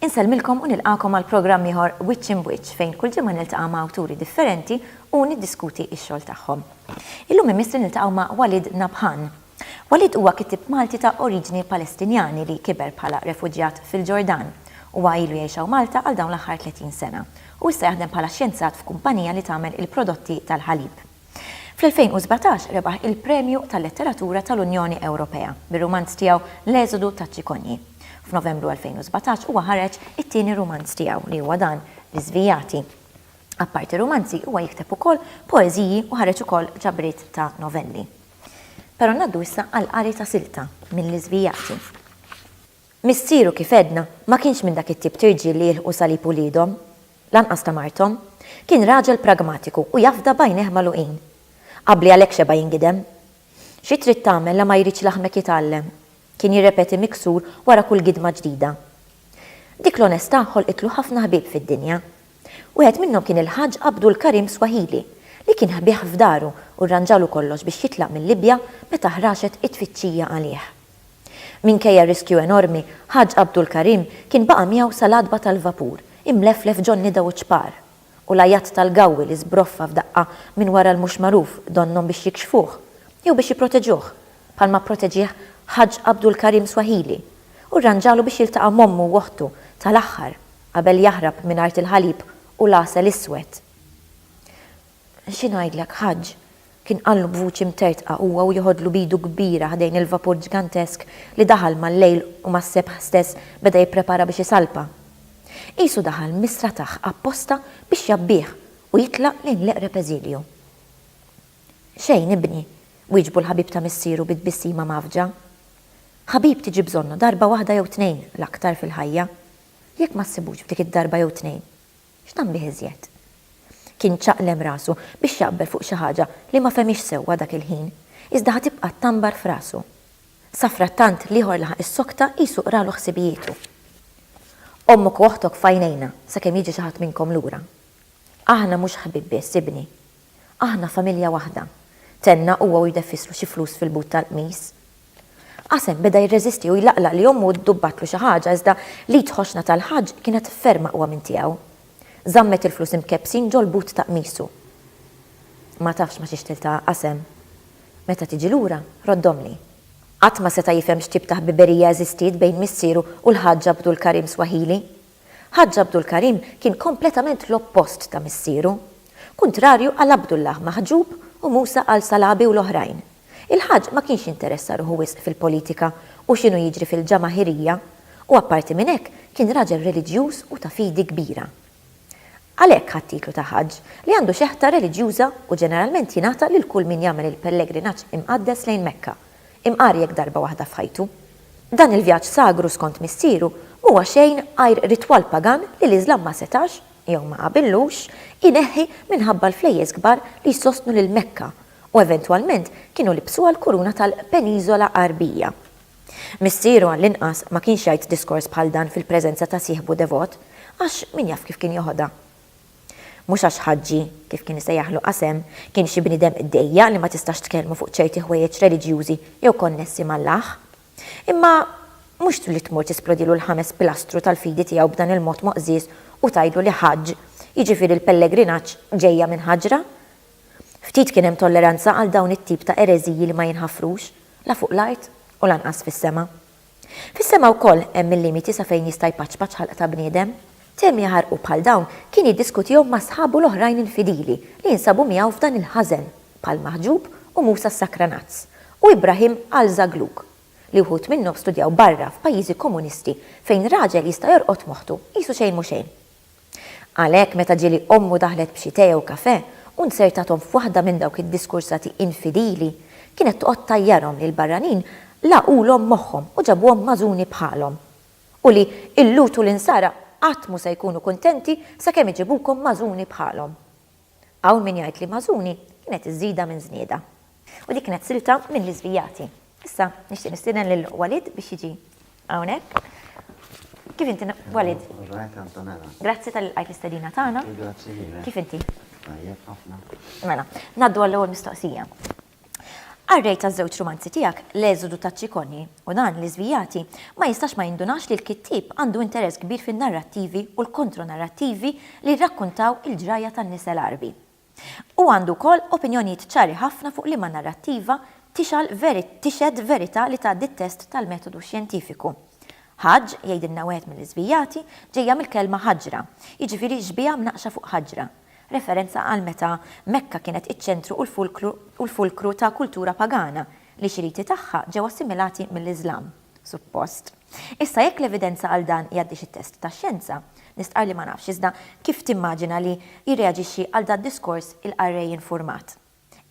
Insellmilkom u nilqakom għal programm ieħor Wiċċ Imbwiċċ fejn kull ġimgħa niltaqa' ma' awturi differenti u niddiskuti x-xogħol tagħhom. Illum imiss li niltaqgħu ma' Walid Nabhan, Walid huwa kittieb Malti ta' oriġini Palestinjani li kiber bħala refuġjat fil-Ġordan. Huwa ilu jgħix hawn Malta għal dawn l-aħħar 30 sena u issa jaħdem bħala xjenzat f'kumpanija li tagħmel il-prodotti tal-ħalib. Fl-2017 rebaħ il-Premju tal-Letteratura tal-Unjoni Ewropea bir-rumanz tiegħu L-Eżodu taċ-Ċikonji. F'Novembru 2017 huwa ħareġ it-tieni rumanz tiegħu li huwa dan L-Iżvijati. Apparti rumanzi huwa jikteb ukoll poeżiji u ħareġ ukoll ġabriet ta' novelli. Pero ngħaddu issa għall-qari ta' silta minn Liżvijati. Missieru kif għedna ma kienx minn dak it-tip t'irġiel li jilħqu salib uliedhom, lanqas ta' marthom. Kien raġel pragmatiku u jafda b'għajnejh magħluqin. Qabbli għalhekk xeba' jingidem. Xi trid tagħmel la ma jridx laħmek jitgħallem? kien jirrepeti miksur wara kull gidma ġdida. Dik l-onestà ħolqitlu ħafna ħbieb fid-dinja. Wieħed minnhom kien il-Ħaġġ Abdul Karim Swahili, li kien ħbieh f'daru u rranġalu kollox biex jitlaq mil-Libja meta ħraxet it-tfittxija għalih. Minkejja r-riskju enormi, Ħaġġ Abdul Karim kien baqa' miegħu sal-għatba tal-vapur, imleflef ġo n-nida u ċ-ċpar. U l-għajat tal-gawwi li żbroffa f'daqqa minn wara l-mhux magħruf donnhom biex jikxfuh, jew biex jipproteġuh, bħalma pproteġieh Ħaġġ Abdul Karim Swahili, u rranġalu biex jiltaqa' m'ommu u oħtu tal-aħħar. Qabel jaħrab minn art il-ħalib u l-għasel iswed. Xi ngħidlek, Ħaġġ, kien qallu b'vuċi mtertqa huwa u jeħodlu b'idu kbira ħdejn il-vapur ġgantesk li daħal mal-lejl u mas-sebħ stess beda jipprepara biex isalpa. Qisu daħal mis-srataħ apposta biex jgħabbih u jitlaq lejn l-eqreb eżilju. Xejn, ibni, wieġbu l-ħabib ta' missieru bi tbissima mgħaffġa. Ħabib tiġi bżonnu darba waħda jew tnejn l-aktar fil-ħajja. Jekk ma ssibux f'dik id-darba jew tnejn, x'tagħmel bih iżjed? Kien ċaqlem rasu biex jaqbel fuq xi ħaġa li ma fehmiex sewwa dak il-ħin, iżda ħa tibqa' tanbar f'rasu. Safrattant l-ieħor laħaq is-sokta qisu qralu ħsibijietu. Ommok u oħtok f'għajnejna sakemm jiġi xi ħadd minnkom lura. Aħna mhux ħbieb biss, ibni. Aħna familja waħda, tenna huwa u jdeffislu xi flus fil-but tal-qmis. Qasem beda jirreżisti u jlaqlaq li ommu ddubbatlu xi ħaġa iżda l-id ħoxna tal-Ħaġġ kienet ferm aqwa minn tiegħu. Żammet il-flus imkebbsin ġol-but ta' qmisu. Ma tafx ma' xiex tiltaqa' Qasem. Meta tiġi lura, roddhomli. Qatt ma seta' jifhem x'tip ta' ħbiberija eżistiet bejn missieru u l-Ħaġġ Abdul Karim Swahili. Ħaġġ Abdul Karim kien kompletament l-oppost ta' missieru. Kuntrarju għal Abdullah Mahjub u Musa al-Salabi u l-oħrajn, il-Ħaġġ ma kienx jinteressa ruħu wisq fil-politika u x'inhu jiġri fil-Ġamaħirija u apparti minn hekk kien raġel reliġjuż u ta' fidi kbira. Għalhekk ħa t-titlu ta' Ħaġġ, li għandu xeħta reliġjuża u ġeneralment jingħata lil kull min jagħmel il-pellegrinaġġ imqaddes lejn Mekka, imqar jekk darba waħda f'ħajtu. Dan il-vjaġġ sagru skont missieru m'huwa xejn għajr ritwal pagan li l-Iżlam ma setax, jew ma qabillux, ineħħi minħabba l-flejjes kbar li jsostnu lil Mekka u eventwalment kienu libbsuha l-kuruna tal-Peniżola Għarbija. Missieru għallinqas ma kienx jgħid diskors bħal dan fil-preżenza ta' sieħbu devot, għax min jaf kif kien joħodha. Mhux għax Ħaġġi, kif kien isejjaħlu Qasem, kien xi bniedem dejjaq li ma tistax tkellmu fuq ċerti ħwejjeġ reliġjużi jew konnessi m'Allah. Imma mhux li tmur tisplodilu l-ħames pilastru tal-fidi tiegħu b'dan il-mod moqżież u tgħidlu li Ħaġġ, jiġifieri l-pellegrinaġġ, ġejja minn ħaġra? Ftit kien hemm tolleranza għal dawn it-tip ta' ereżiji li ma jinħafrux. la fuq l-art u lanqas fis-sema. Fis-sema wkoll hemm il-limiti sa fejn jista' jpaċpaċ ħalq ta' bniedem. Temi jaħarqu bħal dawn kien jiddiskutihom ma' sħabu l-oħrajn il-fidili li jinsabu miegħu f'dan il-ħażen, bħal Maħġub u Musa s-Sakranazz, u Ibrahim al-Zaglug, li wħud minnhom studjaw barra f'pajjiżi komunisti fejn raġel jista' jorqod moħħtu qisu xejn mhu xejn. Għalhekk, meta ġieli ommu daħlet b'xi tè jew kafè u nzertathom f'waħda minn dawk id-diskursati infidili, kienet toqgħod tgħajjarhom li l-barranin lagħqulhom moħħhom u ġabuhom magħżuni bħalhom, u li l-Lhud u l-Insara qatt mhu se jkunu kuntenti sakemm iġibukom magħżuni bħalhom. Hawn min jgħid li Mażuni kienet iż-żieda minn Żnieda. U dik kienet silta minn Li Żvijati. Issa nixtieq nistieden lil Walid biex jiġi hawnhekk. Kif inti Walid? Kif Antonella? Grazzi tal-li lqajt l-istedina tagħna. Grazzi lilek. Kif inti? Tajjeb ħafna. Mela, ngħaddu għall-ewwel mistoqsija. Qarrejt għaż-żewġ rumanzi tiegħek L-Eżodu ta' Ciccone u dan li żvijati ma jistax ma jindunax li l-kittieb għandu interess kbir fin-narrattivi u l-kontronarrattivi li jirrakkuntaw il-ġrajja tan-nisa l-Għarbi. Hu għandu wkoll opinjonijiet ċari ħafna fuq liema narrattiva tixgħal tixhed verità li tgħaddi t-test tal-metodu xjentifiku. Ħaġġ, jgħidilna wieħed mill-iżvijati, ġejja mill-kelma ħaġra, jiġifieri xbieha mnaqqxa fuq ħaġra. referenza għal meta Mekka kienet iċ-ċentru u l-fulkru ta' kultura pagana, li xi riti tagħha ġew assimilati mill-Iżlam, suppost. Issa jekk l-evidenza għal dan jgħaddix it-test tax-xjenza, nistqarr li ma nafx iżda kif timmaġina li jirreaġixxi għal dad-diskors il-qarrej infurmat?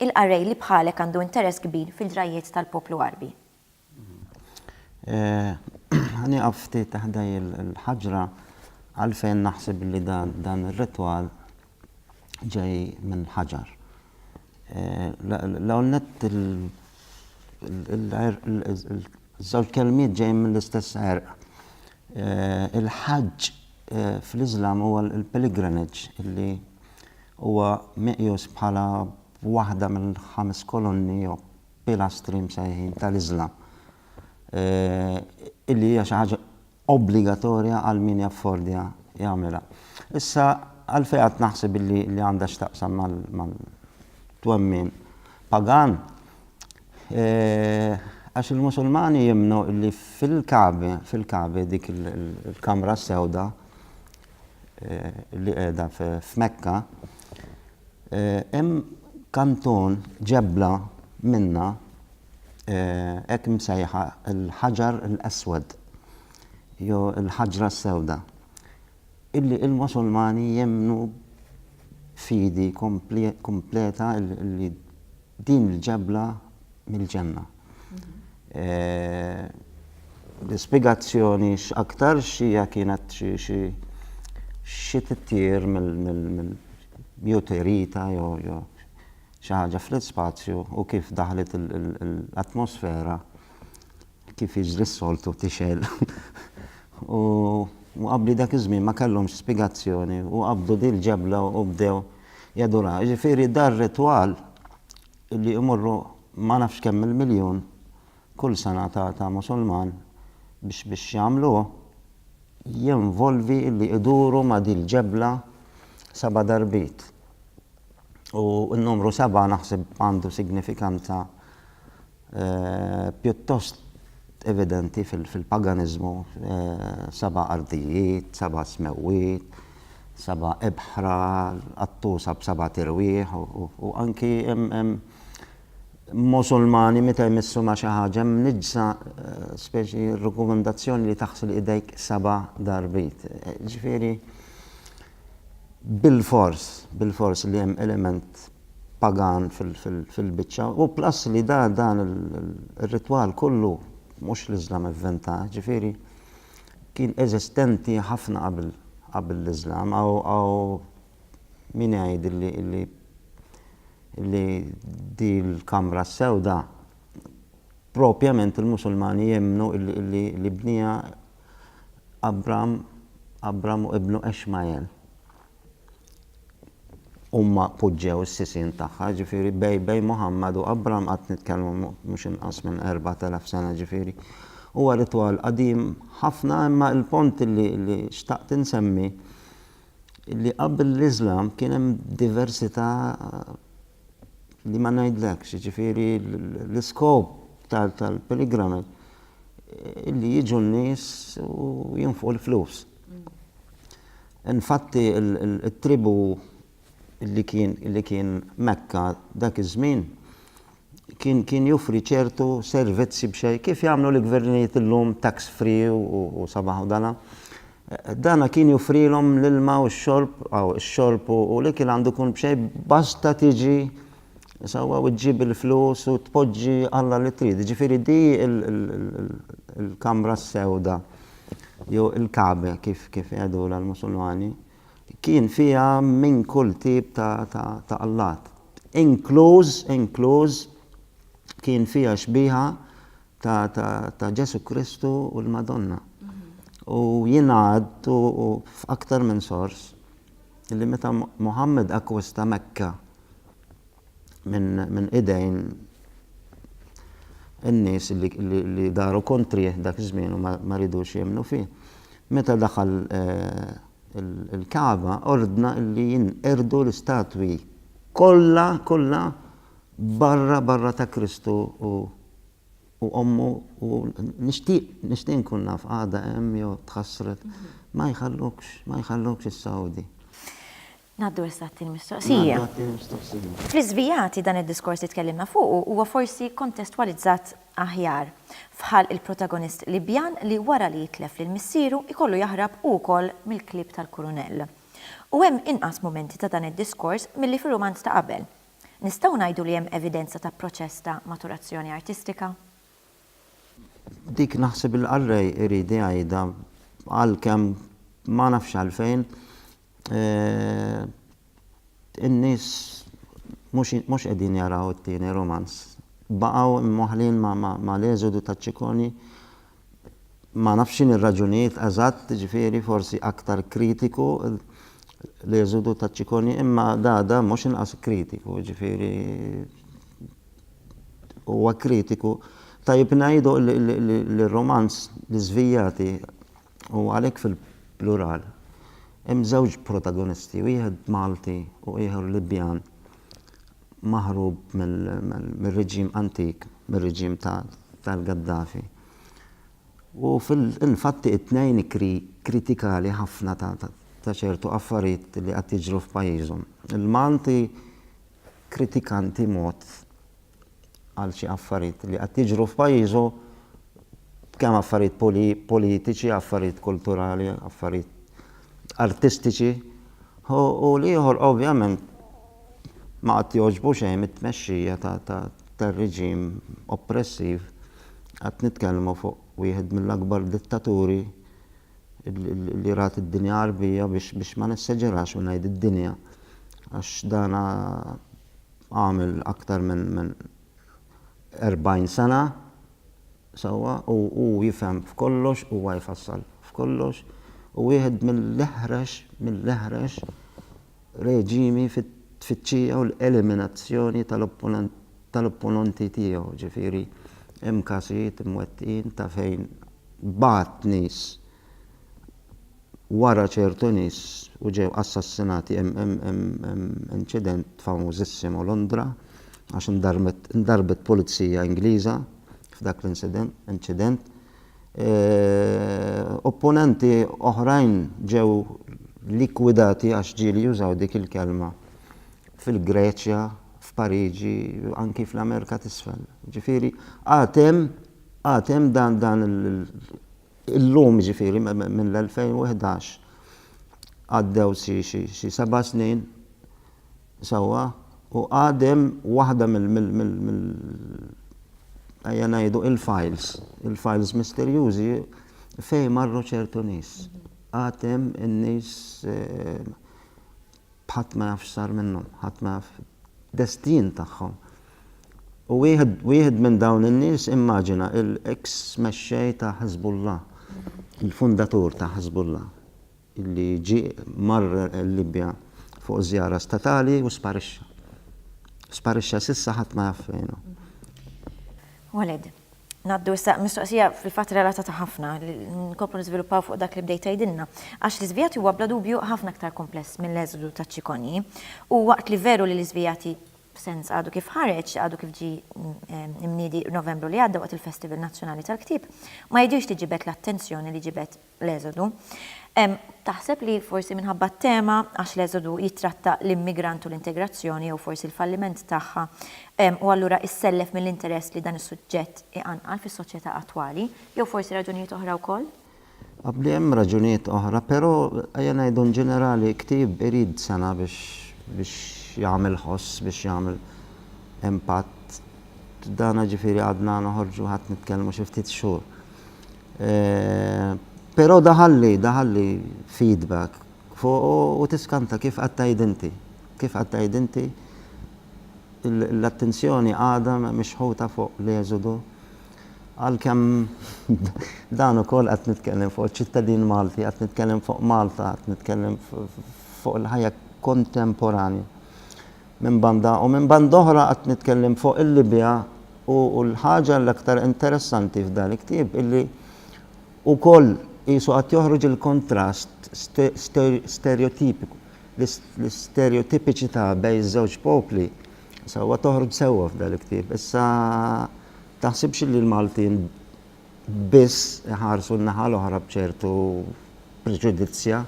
Il-qarrej li bħalek għandu interess kbir fil-ġrajjiet tal-poplu Għarbi. Ħa nieqaf ftit ħda l-ħaġra għalfejn naħseb li dan ir-ritwal ġej minn ħaġar. L-ewwel nett iż-żewġ kelmiet ġejjin mill-istess għerq. Il-ħaġġ fl-Iżlam huwa l-pilgrimage li huwa meqjus bħala waħda mill-ħames kolonni jew pilastri msejħin tal-Iżlam, illi hija xi ħaġa obbligatorja għal min jaffordja jagħmilha. Issa, għalfejn qatt naħseb illi għandha x'taqsam mal-twemmin pagan? Għax il-Musulmani jemmnu illi fil-Kagħba, fil-Kagħba, dik il-kamra s-sewda, li qiegħda f'Mekka, hemm kanton ġebla minnha hekk imsejħa l-Hajar al-Aswad jew il-Ħaġra s-Sewda illi l-Musulmani jemmnu fidi kompleta li Din il-ġebla mill-ġenna. L-ispjegazzjoni x'aktarx hija kienet xi xi xi titjir mill mjuterita jew jew xi ħaġa fl-ispazju u kif daħlet l-atmosfera kif jiġri s-soltu tixgħel u qabbli dak iż-żmien ma kellhomx spjegazzjoni u qabdu din il-ġebla u bdew jaduraha. Jiġifieri dan ir-ritwal li jmorru ma nafx kemm il-miljun kull sena ta' Musulman biex biex jagħmluh jinvolvi li jduru ma' din il-ġebla seba' darbiet. U n-numru seba' naħseb għandu signifikanza pjuttost evidenti fil-paganiżmu, seba' ardijiet, seba' smewwiet, seba' ibħra, qattusa b'seba' tirwieħ, u anki hemm Musulmani meta jmissu ma' xi ħaġa mniġġsa speċi rikomandazzjoni li taħsli idejk seba' darbit. Ġifieri, bilfors, bilfors li hemm element pagan fil-biċċa u plus li da dan ir-ritwal kollu mhux l-Iżlam evventah, jiġifieri kien eżistenti ħafna qabel qabel l-Iżlam hawn min igħid li li li di l-kamra s-sewda propjament il-Musulmani jemmnu li li bnieha Abram Abram u ibnu Ixmajel. Huma poġġew is-sisien tagħha, ġifieri Bejbej, Muħammad u Abram qed nitkellmu mhux inqas minn erbat elef sena ġifieri huwa ritwal qadim ħafna imma l-punt li li xtaqt insemmi li qabel l-Iżlam kien hemm diversità li ma ngħidlekx, jiġifieri l-iskop tal-pilgrimage li jiġu n-nies u jinfqu l-flus. Infatti, it-tribù li kien Mekka dak iż-żmien kien joffri ċertu servizzi b'xejn, kif jagħmlu l-gvernijiet illum, tax free u sabaħ u dala. Dana kien joffrilhom l-ilma u x-xorb, aw ix-xorb u l-ikel għandu jkun b'xejn basta tiġi Sewwa u ġġib il-flus u tpoġġi Alla li trid. Jiġifieri di l-kamra s-sewda jew il-Kagħba kif jgħidulha l-Musulmani kien fiha minn kull tip ta' allat. Inkluż, inkluż kien fiha xbieha ta' Ġesù Kristu u l-Madonna. U jingħad u f'aktar minn sors li meta Muħammad akkwista Mekka minn idejn in-nies li daru kontrih dak iż-żmien u ma ridux jemmnu fih, meta daħal il-Kagħba ordna li jinqerdu l-istatwi kollha kollha barra barra ta' Kristu u u ommu u nixtieq nixtieq nkun naf għadha hemm jew tħassret ma jħallukx ma jħallukx is-Sawdi. Ngħaddu issa għat-tieni mistoqsija. Ngħaddu għat-tieni mistoqsija. Fl-iżvijati dan id-diskors li tkellimna fuqu huwa forsi kontestwalizzat aħjar f'ħalq il-protagonist Libjan li wara li jitlef lil missieru jkollu jaħrab hu wkoll mill-klieb tal-kurunell. U hemm inqas mumenti ta' dan id-diskors milli fir-rumanz ta' qabel. Nistgħu ngħidu li hemm evidenza ta' proċess ta' maturazzjoni artistika? Dik naħseb il-qarrej irid jgħidha għalkemm ma nafx għalfejn in-nies mhux qegħdin jaraw it-tieni rumanz. Baqgħu mwaħħlin mal-eżodu ta' Ciccone ma nafx x'inhi r-raġunijiet eżatt, jiġifieri forsi aktar kritiku l-eżodu ta' Ciccone imma Dada mhux inqas kritiku, jiġifieri huwa kritiku. Tajjeb ngħidu li r-romanz L-Iżvijati huwa għalhekk fil-plural. Hemm żewġ protagonisti, wieħed Malti u ieħor Libjan. maħrub mir-reġim antik, mir-reġim tal-Gaddafi. U fil-fatti it-tnejn kritikali ħafna ta' ċertu affarijiet li qed jiġru f'pajjiżhom. Il-Malti kritikanti mod għal xi affarijiet li qed jiġru f'pajjiżu, kemm affarijiet politiċi, affarijiet kulturali, affarijiet artistiċi, u l-ieħor ovvjament ma qed jogħġbu xejn mit-tmexxija tar-reġim oppressiv, qed nitkellmu fuq wieħed mill-akbar dittaturi li rat id-dinja Għarbija biex ma nesseġerax u ngħid id-dinja għax dan għamel aktar minn 40 sena sewwa u hu jifhem f'kollox, huwa jfassal f'kollox u wieħed mill-eħrex mill-eħrex reġimi fit-tfittxija u l-eliminazzjoni tal-opponenti tiegħu, ġifieri hemm każijiet imwettqin ta' fejn bagħat nies wara ċertu nies u ġew assassinati hemm inċident famużissimo Londra għax indarrbet pulizija Ingliża f'dak l-incident inċident opponenti oħrajn ġew likwidati għax ġieli jużaw dik il-kelma fil-Greċja f'Pariġi anki fl-Amerika t'Isfel ġifieri għad hemm għad hemm dan dan il Illum, jiġifieri mill-2011, għaddew xi seba' snin sewwa u għad hemm waħda mill, ejja ngħidu, il-files, il-files misterjużi fejn marru ċertu nies. Għad hemm in-nies ħadd ma jaf x'sar minnhom, ħadd ma jaf id-destin tagħhom. U wieħed wieħed minn dawn in-nies immaġina l-eks mexxej ta' Hezbollah, il-fundatur ta' Hezbollah, li ġie mar il-Libja fuq żjara statali u sparixxa. Sparixxa s'issa ħadd ma jaf fejn hu. Waled, ngħaddu issa mistoqsija fil-fatt relatata ħafna, nkomplu niżviluppaw fuq dak li bdejt tgħidilna. Għax l-iżvijati huwa bla dubju ħafna aktar kumpless mill-eżodu taċ-ċikonji. U waqt li veru li l-iżvijati b'sens għadu kif ħareġ, għadu kif ġie mniedi Novembru li għadda waqt il-Festival Nazzjonali tal-Ktieb, ma jidhirx li ġibed l-attenzjoni li ġibed l-Eżodu. Taħseb li forsi minħabba t-tema, għax l-Eżodu jittratta l-immigrant u l-integrazzjoni jew forsi l-falliment tagħha, u allura issellef mill-interess li dan is-suġġett iqanqal fis-soċjetà attwali, jew forsi raġunijiet oħra wkoll? Abdi hemm raġunijiet oħra, pero ejja ngħidu in ġenerali ktieb irid sena biex biex jagħmel ħoss, biex jagħmel impatt. Dana ġifieri għadna noħorġu ħadd nitkellmu xi ftit xhur. Pero daħalli, daħalli feedback fuqu u tiskanta kif qed tgħid inti. Kif qed tgħid inti l-attenzjoni għadha mixħuta fuq l-eżodu Għalkemm dan ukoll qed nitkellem fuq iċ-ċittadin Malti, qed nitkellem fuq Malta, qed nitkellem fuq il-ħajja kontemporanja minn banda u minn banda oħra qed nitkellem fuq il-Libja u l-ħaġa l-aktar interessanti f'dan il-ktieb illi ukoll qisu qed joħroġ il-kontrast stereotipiku l-istereotipiċità bejn iż-żewġ popli sewwa toħroġ sewwa f'dan il-ktieb. Issa taħsibx li l-Maltin biss iħarsu n-naħa l-oħra b'ċertu preġudizzja.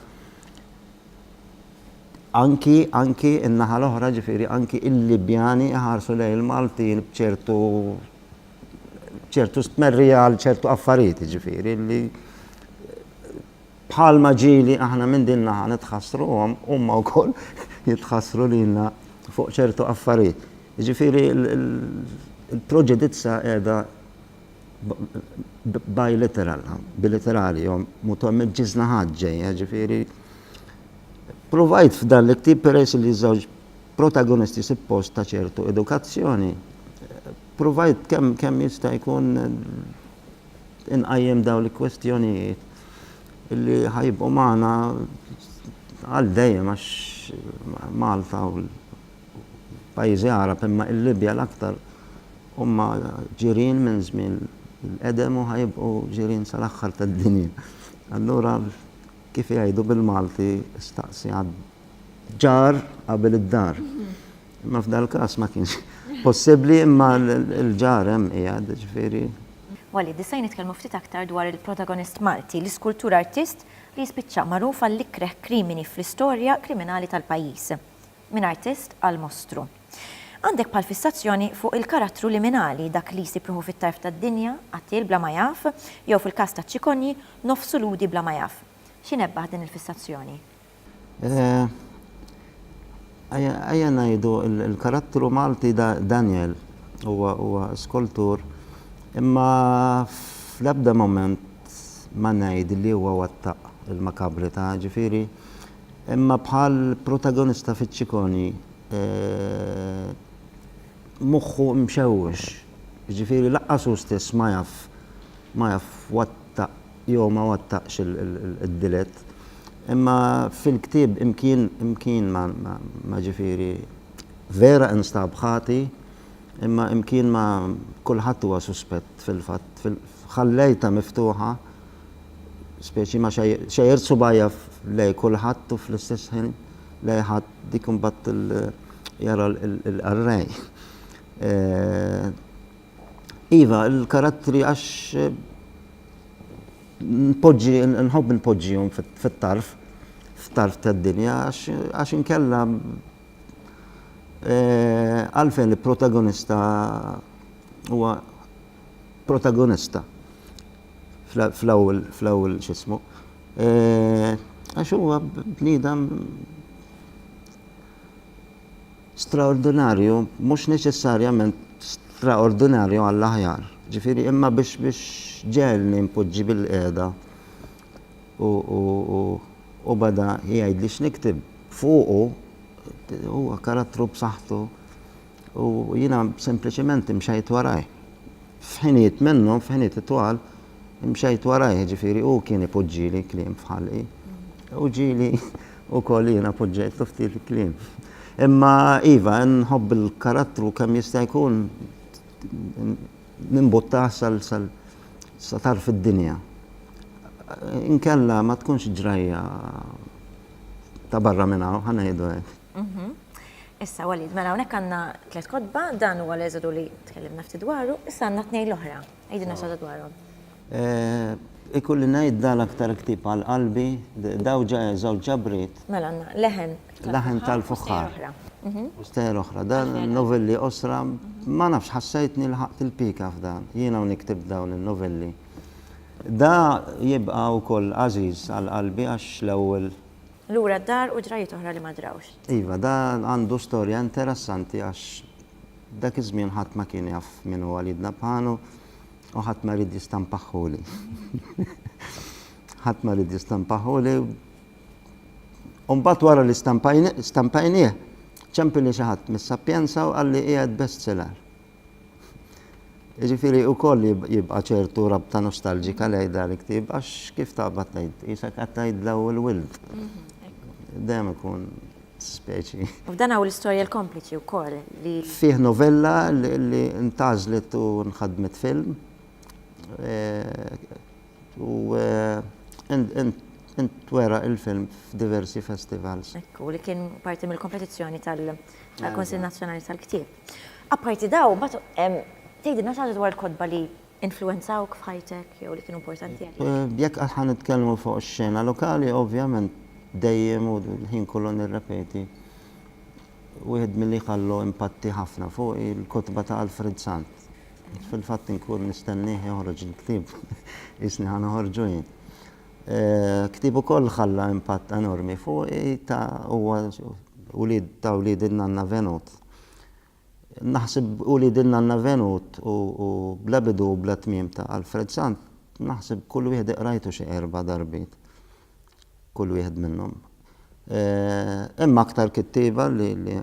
Anki, anki n-naħa l-oħra ġifieri anki il-Libjani iħarsu lejn il-Maltin b'ċertu ċertu stmerrija għal ċertu affarijiet ġifieri li Bħalma ġieli aħna minn din naħa nitħassruhom, huma wkoll jitħassru lilna fuq ċertu affarijiet. Jiġifieri l-proġedizza qiegħda biliteral, biliterali, jew mutom miġ-ġiż naħat ġejja, jiġifieri Provajt f'dan l-ktieb peress li żewġ protagonisti suppost ta' ċertu edukazzjoni, provajt kemm kemm jista' jkun inqajjem dawn il-kwestjonijiet li ħa jibqgħu magħna għal dejjem għax Malta u l-pajjiżi Għarab imma l-Libja l-aktar huma ġirien minn żmien il-qedem u ħa jibqgħu ġirien sal-aħħar tad-dinja. Allura kif jgħidu bil-Malti staqsi għad-ġar qabel id-dar. Imma f'dal-każ ma kienx possibbli imma l-ġar hemm qiegħed, ġifieri. Wali, disajn nitkellmu ftit aktar dwar il-protagonist Malti, l-iskultur artist li jispiċċa magħruf għall-ikreh krimini fl-istorja kriminali tal-pajjiż. Minn artist għal mostru. Għandek bħal fissazzjoni fuq il-karattru liminali, dak li jsib ruħu fit-tarf tad-dinja, qattiel bla ma jaf, jew fil-każ ta' Ciccogni, nofsu Lhudi bla ma jaf. Xi nebbaħ din il-fissazzjoni? Ejja ngħidu l-karattru Malti Daniel huwa skultur imma fl-ebda mument ma ngħid li huwa wettaq il-makabrità ġifieri imma bħal protagonista fiċ-ċikoni moħħu mxewwex jiġifieri lanqas hu stess ma jaf ma jaf wettaq Jew ma wettaqx id-delitt. Imma fil-ktieb imkien imkien ma ma ġifieri vera instab ħati imma imkien ma kulħadd huwa suspett fil-fatt ħallejtha miftuħa speċi ma xejjert subgħajja lejn kulħadd u fl-istess ħin lejn ħadd dik imbagħad jara l-qarrej. Iva, l-karattri għax npoġġi, nħobb npoġġihom fit-tarf, fit-tarf tad-dinja, għax inkella eh, għalfejn li protagonista huwa protagonista fl-ewwel fl-ewwel x'ismu. Eh, għax huwa bniedem Straordinarju, mhux neċessarjament straordinarju għall-aħjar. Ġifieri imma biex biex ġegħelni npoġġi bilqiegħda u u u u beda jgħidli x'nikteb fuqu huwa karattru b'saħħtu u jiena sempliċement imxejt warajh. F'ħinijiet minnhom, f'ħinijiet itwal, mxejt warajh, jiġifieri hu kien ipoġġieli kliem f'ħalqi. U ġieli wkoll jiena poġġejtlu ftit kliem. Imma iva, nħobb il-karattru kemm jista' jkun nimbuttah sal sal sa tarf id-dinja. Inkella ma tkunx ġrajja ta' barra minn hawn, ħa ngħidu hekk. Issa, Walid, mela hawnhekk għandna tliet kotba, dan huwa l-Eżodu li tkellimna ftit dwaru, issa għandna tnejn l-oħra. Għidilna xi ħaġa dwarhom. Ikolli ngħid dan l-aktar ktieb għal qalbi, dawn ġa żewġ ġabriet. Mela għandna Leħen tal-Fuħħar. Leħen tal-Fuħħar. U Stejjer Oħra. Dan novelli qosra, ma nafx ħassejtni lħaqt il-pika f'dan. Jiena u nikteb dawn in-novelli. Da jibqa' wkoll għażiż għal qalbi għax l-ewwel Lura d-dar u ġrajjiet oħra li ma ġrawx. Iva, dan għandu storja interessanti għax dak iż-żmien ħadd ma kien jaf min hu Walid Nabhan u ħadd ma ried jistampaħħuli. Ħadd ma ried jistampaħħuli. U mbagħad wara li stampajnieh, ċempilni xi ħadd mis-Sapienza u qalli qiegħed bestseller. Jiġifieri wkoll jibqa' ċertu rabta nostalġika lejn dan il-ktieb għax kif taqbad tgħid, qisek qed tgħid daw il-wild. Dejjem ikun speċi. F'dan hawn l-istorja l-kompliċi wkoll li. Fih novella li ntgħażlet u nħadmet film u intwera il-film f'diversi festivals. Hekk hu, li kien parti mill-kompetizzjoni tal-Kunsill Nazzjonali tal-Ktieb. Apparti dawn, mbagħad hemm tgħidilna xi ħaġa dwar il-kotba li influwenzawk f'ħajtek jew li kienu importanti għalik? Jekk għad ħa nitkellmu fuq ix-xena lokali, ovvjament dejjem u l-ħin kollu nirrepeti, wieħed milli ħallu impatti ħafna fuqi l-kotba ta' Alfred Sant. Fil-fatt inkun nistennieh joħroġ il-ktieb, qisni ħa noħorġu jien. Ktieb ukoll ħalla impatt enormi fuqi ta' huwa wlied ta' wlied in-nanna Venot. Naħseb u li din l-Anna Venut u bla bidu u bla tmiem ta' Alfred Sant naħseb kull wieħed iqrajtu xi erba' darbiet. Kull wieħed minnhom. Hemm aktar kittieba li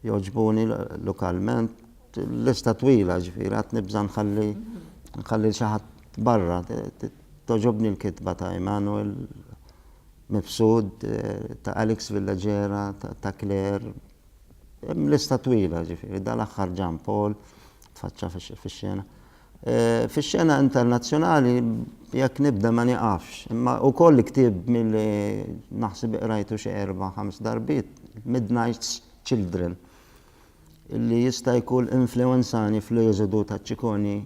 jogħġbuni lokalment lista twila ġifieri għad nibża' nħalli nħalli xi ħadd barra. Togħġobni l-kitba ta' Emanuel Mifsud, ta' Alex Villaggera, ta' Claire, hemm lista twila, ġifieri dal-aħħar Jean Paul tfaċċa fix-xena. Fix-xena internazzjonali jekk nibda ma nieqafx, imma wkoll ktieb milli naħseb iqrajtu xi erba' ħames darbiet, Midnight's Children, illi jista' jkun influwenzani fl-eżodu ta' Ciccone.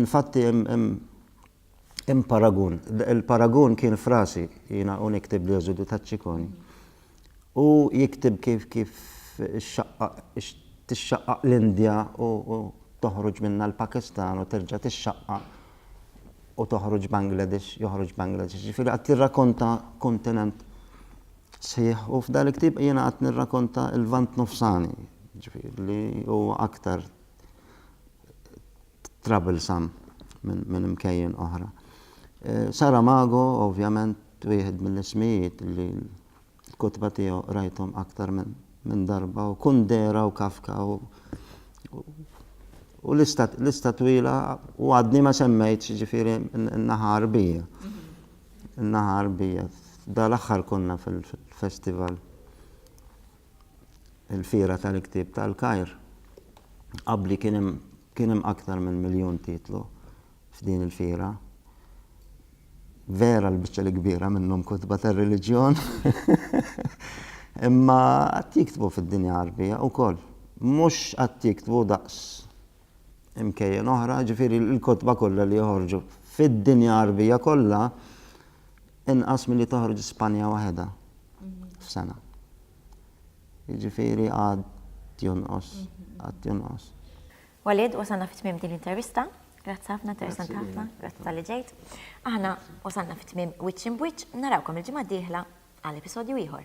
Infatti hemm Hemm paragun. Il-paragun kien frasi, jiena u niktib li Eżodu ta' Ċikoni. U jiktib kif kif tixxaqqaq l-Indja u toħroġ minnha l-Pakistan u terġa' tixxaqqaq u toħroġ Bangladesh, joħroġ Bangladesh. Ġifieri qed jirrakonta kontinent sħiħ u f'dan il-ktieb jiena qed nirrakonta l-Lvant Nofsani, ġifieri li huwa aktar troublesome minn imkejjen oħra. Saramago, ovvjament, wieħed mill-ismijiet li l-kotba tiegħu rajthom aktar minn darba u Kundera u Kafka u u l-ista twila u għadni ma semmejt ġifiri n-naħa arbija. N-naħa arbija. Da l-axħar konna fil-festival. il-Fiera tal-Ktieb tal-Kajr, qabbli kien hemm kien hemm aktar minn miljun titlu f'din il-fiera. Vera l-biċċa l-kbira minnhom kotba tar-reliġjon. Imma qatt jiktbu fid-dinja Għarbija wkoll. Mhux qatt jiktbu daqs imkejjen oħra, ġifieri l-kotba kollha li joħorġu fid-dinja Għarbija kollha inqas milli toħroġ Spanja waħedha f'sena. Jiġifieri għad jonqos, għad jonqos. Walid, wasalna fit-tmiem din l-intervista. Grazzi ħafna, interessant ħafna, grazzi tal-li ġejt. Aħna wasalna fit-tmiem wiċċ imbwiċċ, narawkom il-ġimgħa d-dieħla għal episodju ieħor.